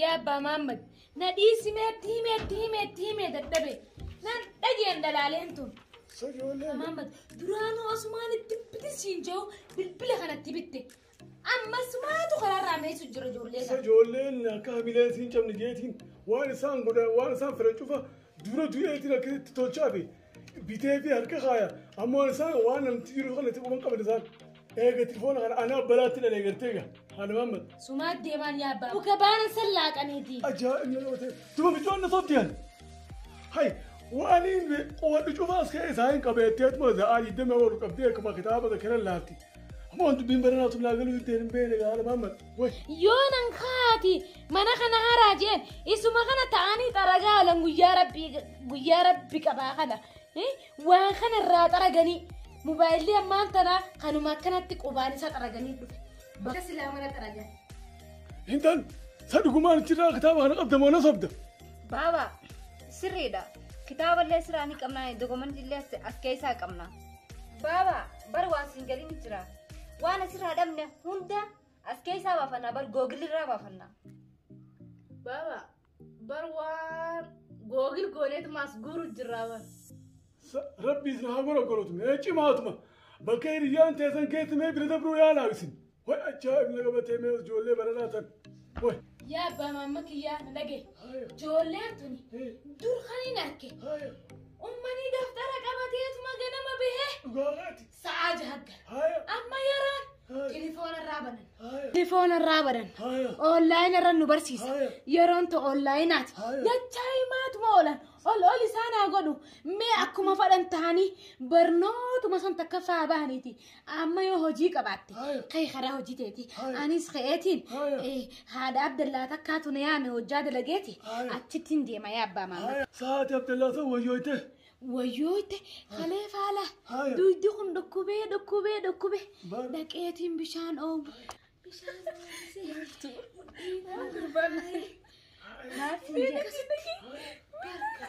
Yaa abbaa Maammad, na dhiisi meetti himeetti himeetti himee dadhabe. Nan dhageen dalaaleen tun. Maammad, duraanuu asumaan itti bitin siin jiru bilbila kanatti bitte. Ammas maatu karaarraa meessu jira ijoollee kana. Ijoolleen akka hamileen siin cabne jeetiin waan isaan godhan waan isaan fedhan cufa dura du'eetiin akka itti tolchaa fi bitee fi harka kaaya ammoo isaan waan namti jiru kana itti quban qaban isaan eegatti foon kana anaa balaatti dhalee gartee gaa haala maammal Sumaa deemaan yaa abbaa. Muka baana san laaqaniiti. ajaa'ib yoo ta'e tuma bijoon na sobdi ani hay waan inni qowadhu cufaa as ka'e isaa hin qabeettee tuma za'aa digdamii afur qabdee akkuma kitaaba zakira laatti Moon dubbiin baranaa tun naa galuu ittiin hin beekne gaala maamma. Woy. Yoo nan kaati mana kana haraa jeen isuma kana ta'anii xaragaa oolan guyyaa rabbii guyyaa rabbi qabaa kana eh, waan kana irraa xaraganii mobaayilii ammaan tanaa kanuma akkanatti qubaan isaa xaraganii dhufe. Bakka silaa mana xaragan. Intal sa dhugumaan achirraa kitaaba kana qabda moo na sobda. Baaba sirriidha. Kitaaballee siraa ni qabna, dokumentillee as keessaa qabna. Baaba bar waan siin galin jira. Waan asirraa dhabne hunda as keessaa baafanna bar googilirraa baafanna. Baaba bar waan googil gooneetuma as guuru jirraa bar. Rabbi isin haa gorogorotu. Ee cimaatuma. Bakka hiriyyaan teessan keessi mee bira dabruu yaalaa isin. Way ajaa'ib na qabatee mee ijoollee baranaa tan. Way. Yaa abbaa maamma kiyyaa na dhage. Ijoolleen tuni dur kan hin arke. Ummanii daftara qabateetuma ganama bahee. Dhugaarraati. Sa'aa jahaggara. Amma yeroon tilifoona irraa banan. Tilifoona irraa banan. Oonlaayina irra nu barsiisa. Yeroon to oonlaayinaati. Dachaa himaatuma oolan. Ol ol isaan haa godhu. Mee akkuma fadhan ta'anii barnootuma san takka faa bahaniiti. Amma yoo hojii qabaatte Haya. kee karaa hojii teeti Haya. anis ka'eetiin Haya. eh, haadha abdallaa takkaatu na yaame hojjaa dalageeti Haya. achittiin deema yaa abbaa maama Haya. Sa'aati Abdallaa san wayyooyte. wayyooyte kalee faala Haya. duydi kun dhukkubee dhukkubee dhukkubee Bar- dhaqeetiin bishaan oomu bishaan oomsee Gurbaan. Maaf hin jedhu. Barka.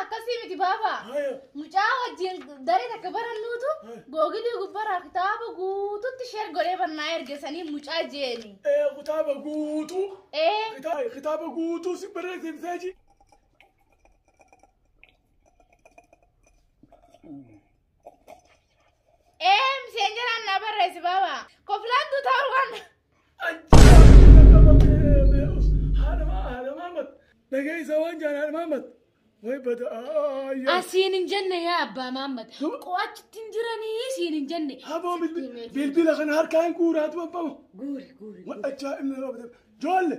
Akkasii miti baaba. Mucaa wajjin daree takka barannuutu googilii gubbarraa kitaaba guututti sheer godhee barnaa ergesanii mucaa jeeni. Kitaaba guutuu. Ee. Kitaaba guutuu si barreessin seeji. Ee miseenjeraan naa barreessi baaba. Koflaan tuutaa waan. Asiin hin jenne yaa abbaa maammad. Qoo achitti hin jiranii siin hin jenne. Aboo bilbila kana harkaa hin guuraatu abbama. Guuri guuri. Wadhachaa inni yoo bade. Joolle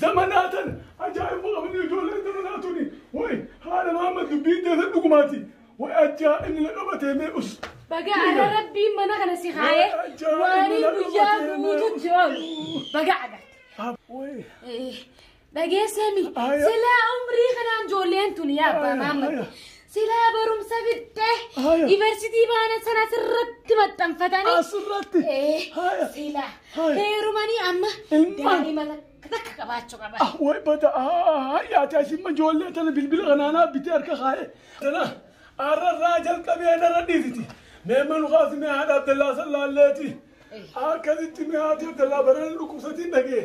Zamanaatan ajaa'iba qabni ijoolleen zamanaa tuni way haadha maamma dubbiin teessa dhugumaati way ajaa inni na qabatee mee us Baga ada rabbiin mana kana si haye waanii guyyaa guututti oolu baga agarte. way Eh, Dhageessemi. Aya. Silaa umrii kanaan ijoolleen tun yaa abbaa maammatu. Aya. Silaa barumsa fixxee Aya. yuunivarsiitii baana sana sirratti maxxanfatanii. Asirratti. Eh, Aya. Silaa Aya. heerumanii amma Ilmaan. daa'ima takka takka qabaachuu qaba. Ah, way bada hayyaati asimma ijoollee tana bilbila kanaanaa bitee harka kaa'e. Tana arrarraa jalqabee narra dhiiriti. Mee manu kaasi mee haadha Abdallaa sallaalleeti. Akkasitti mee haati Abdallaa barana dhukkubsatiin dhagee.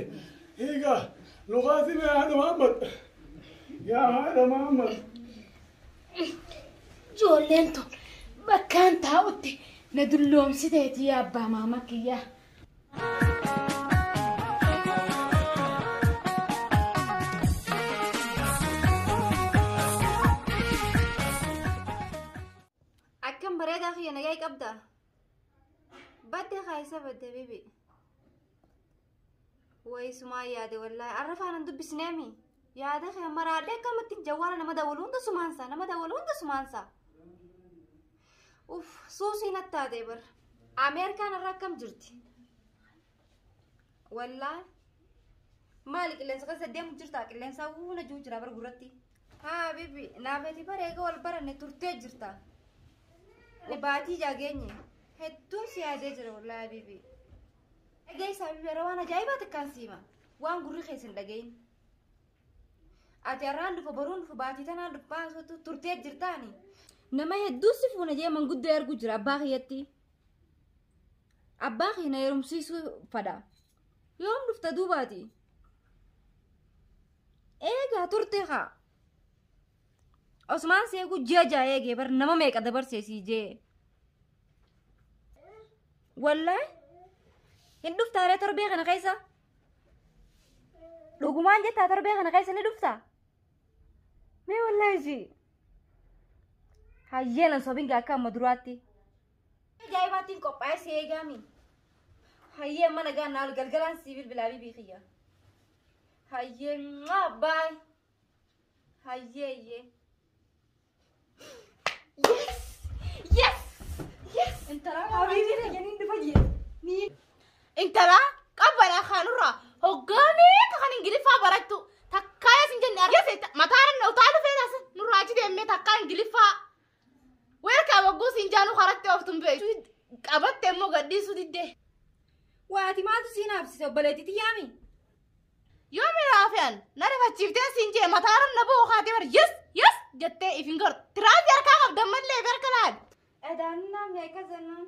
Hiika lukaatiin yaa haadha Muhammad. Yaa haadha Muhammad. Ijoolleen tun bakkaan taa'utti na dulloomsiteeti yaa abbaa maama kiyyaa. Akkam bareedaa kiyya nagaa qabda. Badde kaayisa badde bibi. Wayi sumaa yaade wallaahi arra faanan dubbisneemi yaada kee amma raadhee akkamitti jawwaala nama dawwalu hunda sumaansa nama dawwalu hunda sumaansa uff suusii nattaatee bar ameerikaan irra akkam jirti wallaahi maali qilleensa keessa deemu jirta qilleensa hunda jiru jira bar gurratti haa bibi naafeeti bar eega wal baranne turtee jirta baatii jaageenye hedduun si yaadee jira wallaahi bibi. Dhaga'ii saabii bara waan ajaa'ibaa takkaan siima. Waan gurri keessa hin dhaga'in. Ati har'aan dhufa boruun dhufa baatii tanaan dhufa baasuutu turtee jirtaani. Nama hedduu si fuuna jee manguddoo arguu jira abbaa kiyyatti. Abbaa kiyya na heerumsiisuu fadha. Yoom dhufta duubaati? Eegaa turte haa. Osmaan seeguu ji'a ja'a eegee bar nama meeqa dabarsee sii jee. Wallahi hin dhuftaaree torbee kana keessa. Dhugumaan jettaa torbee kana keessa ni dhuftaa? Mee wallahi si. Hayyeenan sobinga akka amma duraatti. Ajaa'ibaattiin qophaa'ee si eegaami. Hayyeen mana gaannaa ol galgalaan si bilbilaa bibii kiyya. Hayyee mwah, bye. Hayyee iyyee. Yes! Yes! Yes! Intala Habiibi na jeniin dhufa jee. Ni Intala qabbanaa kaanurraa hoggaa meeqa kan ingiliffaa barattu takkaa yasin jenne argise mataa nan utaalu feetas nurraa achi deemee takkaa ingiliffaa Weerkaa bogguu siin jaanu karatti ooftuun beektu qabatte immoo gadhiisuu diddee. Waati maaltu siin haabsise obboleetti tiyyaami? Yoo miraafiyaan na rifachiiftee siin jee mataa ramna boo kaatee bar yes yes jettee ifin gartu. Tiraansi harkaa qabdan mallee beerka laal. Edaanuu naamni akka zannaan.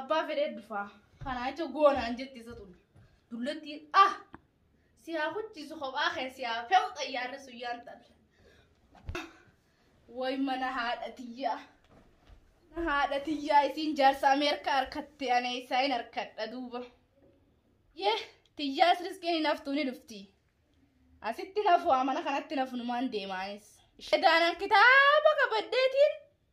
Abbaa fedhee dufaa. Kanaa jecha goonaan jetti isa tun. Dullattii ah! Si haa kuchiisu kophaa kee si haa fe'u xayyaarri sun yaan talle. Way mana haadha tiyyaa. Mana haadha tiyyaa isiin jaarsa Ameerikaa harkatte anee isaa hin harkadha duuba. Yee tiyyaas riskiin hin haftuu ni dhufti. Asitti nafu amana kanatti nafu numaan deemaanis. Ishee daanaan kitaaba qabaddeetiin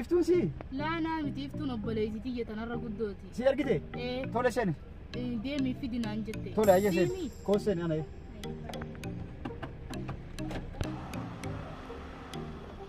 Iftuun si Laanaa miti iftuun obboleessi tiyya tanarra guddooti. si argite Ee, tole seeni ee, deemii fidi naan jette. tole ayya seeni Deemii. koo seeni ana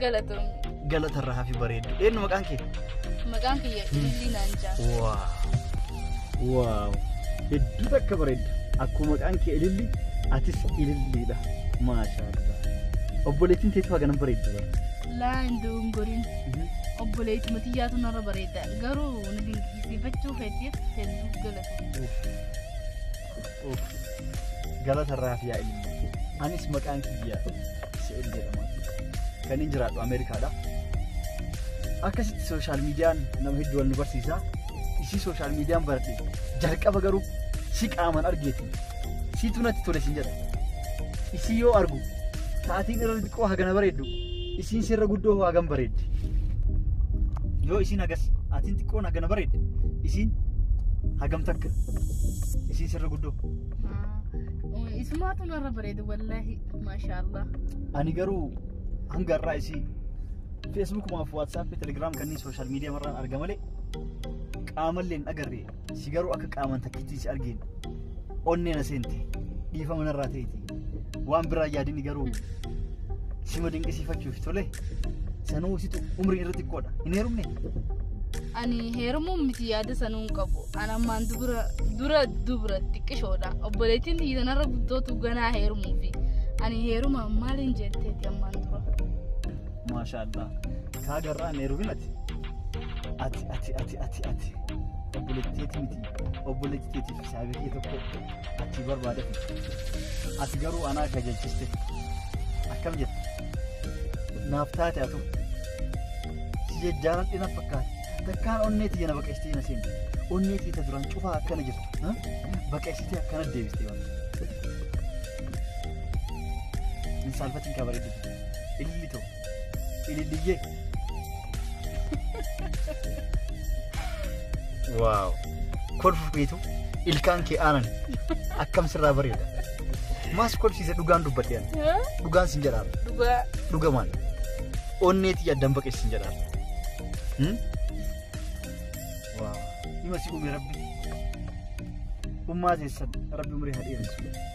Galatoom. Galata irraa hafi bareeddu. Eenyu maqaan kee? Maqaan kiyya Ilillii naan jaa. Waaw. Waaw. Hedduu takka bareedda. Akkuma maqaan kee ililli atis ililliidha. Maashaallah. Obboleettiin teetu haga nan bareeddu bara. Laa hin dogongoriin. Obboleetti matiyyaatu narra bareeda. Garuu na dinqisiifachuu fedheef hedduu galatoom. Galata irraaf yaa ilmi. Anis maqaan kiyya Se'el jedhama. Kan inni jiraadhu Ameerikaadha. Akkasitti sooshaal miidiyaan nama hedduu wal nu barsiisa. Isii sooshaal miidiyaan barate jalqaba garuu si qaaman argeeti. Siitu natti tole sin jedha. Isii yoo argu taatiin irra xiqqoo hagana bareeddu Isiin sirra guddoo hoo hagam bareeddi. Yoo isiin hagas atiin xiqqoon hagana bareedde isiin hagam takka isiin sirra guddoo. Isumaatu narra bareeda wallaahi maashaallah. Ani garuu hanga har'aa isii feesbuukumaaf waatsaappi telegiraam kanneen sooshaal miidiyaa marraan arga malee qaamallee hin agarre. si garuu akka qaaman takkittii si argeen onnee na seente dhiifama narraa ta'eeti waan biraa yaadini garuu sima dinqisiifachuuf tole sanuu situ umrii irra xiqqoodha hin heerumne ani heerumuun miti yaada sanuu hin qabu an ammaan dubra dura dubra xiqqishoodha obboleettiin tiyya tanarra guddootu ganaa heerumuufi ani heerumaan maaliin jetteeti ammaan dura maashaallah Kaa garraa hin heerumin ati. Ati ati ati ati ati. Obboleettiiti miti. Obboleetti teetiif saabiree tokko ati barbaada. Ati garuu anaa kajeelchiste. Akkam jette? Naaf taate atu. Si jajjaaran dhina fakkaate. Takkaan onnee tiyya na baqeessitee na seente. Onnee tiyya duraan cufaa akkana jirtu. ha? Baqeessitee akkana deebistee waan. Hin saalfatiin kaa bareedduu. Ililli ta'u. Ililliyyee. Waaw. Kolfuuf beetu ilkaan kee aanan akkam sirraa bareeda. Maas kolfsiise dhugaan dubbadhe ani. Dhugaan sin jedhaara. Dhugaa. Dhugamaan. Onneetii yaaddan baqeessi sin jedhaara. Hmm? Waaw. Hima si uume rabbi. Ummaa teessan rabbi umrii haa dheeressu.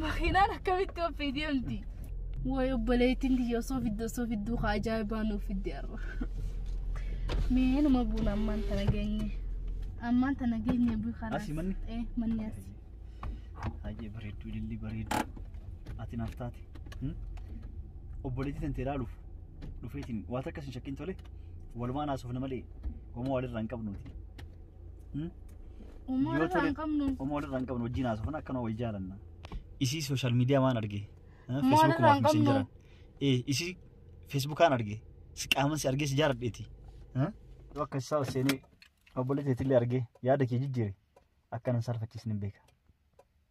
Makiinaan akkamitti oofee deemti? Wayi obboleettiin tiyya osoo fidde osoo fidduu haa ajaa'ibaa nuuf fidde har'a. Mee numa buuna ammaan tana geenye. Ammaan tana geenye bu'i karaa. Asi manni? Eh manni asi. Baay'ee bareedduu ilillii bareedduu. Ati naaf taate. Hmm? Obboleettii tantee ilaaluuf dhufeetiin waan takkas hin shakkin tole walumaan haasofna malee homaa walirraa hin qabnuuti. Umoo Yoo irraa tole- hin qabnu. Umoo irraa hin qabnu wajjin haasofna akkanuma wal jaalanna. Isii sooshaal miidiyaa waan arge. Umoo Feesbuukumaa irraa fi hin qabnu. misenjaran. Ee isii feesbuukaan arge. Si qaaman si argee si jaaladheeti. Yoo akka isaa seenee obbolee teetillee argee yaada kee jijjiire akka nan saalfachiisni hin beeka.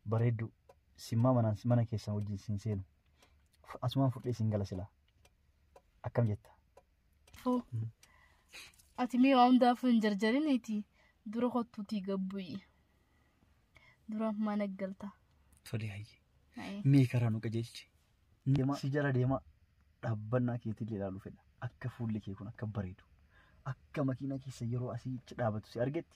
Bareedduu simmaa manaan mana keessan wajjin siin seenu. Asumaan fudhee siin gala silaa. Akkam jetta? Foo. Ati mee waa hundaafuu hin jarjariniiti. Dura kottuutii gabbu'i. Dura mana galta. Tolee hayyee. Haye. Mee karaa nu qajeelchi. Deemaa si jala deemaa dhaabbannaa keetiin ilaaluu fedha. Akka fuulli kee kun akka bareedu. Akka makiinaa keessa yeroo asii achi dhaabatu si argetti.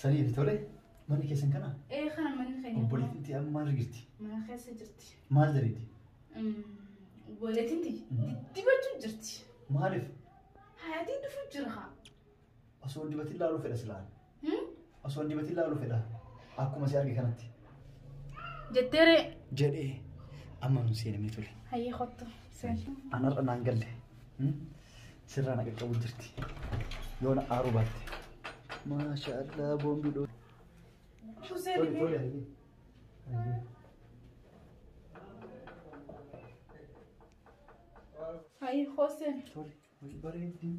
Sanii fi tole manni keessan kana Ee kana manni keenya. obboleettiin ta'e amma maal jirti? Mana keessa jirti. Maal daleeti? Obboleettiin tiyya diddibachuu jirti. Maaliif? Hayatiin dhufuu jira haa. Osoo hin dibatin laaluu fedha silaan. Hmm? Osoo hin dibatin laaluu fedha. Akkuma si arge kanatti. Jetteeree. Jedhee amma nu seenamee ture. Hayyee kottu. Seenaa. Anarra naan galle. Sirraa na qaqqabu jirti. Yoo na aaruu baatte. Maasha Allah boombii dhoo. Hayır Hosen. Tole. Bareeddii.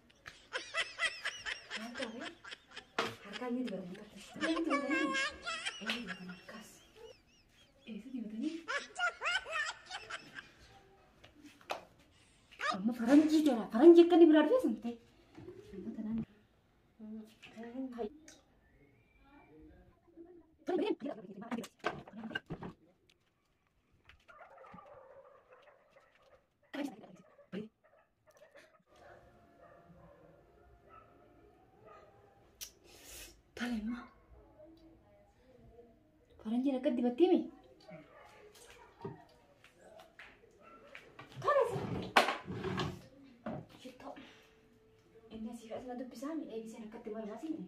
Amma faranjii jala faranjii akka inni biraa dhufee sun ta'e. Tolema. Faranjiin akka dibattee mi? Tolesa. Shittoo. Inni asii fi asuma dubbisaa mi? Eegiseen akkatti mallaasi mi?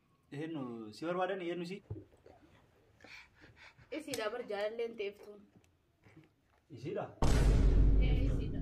Eenyu si barbaadan eenyu si? Isiidha bar jaalalleen teeftuun. Isiidha. Isiidha.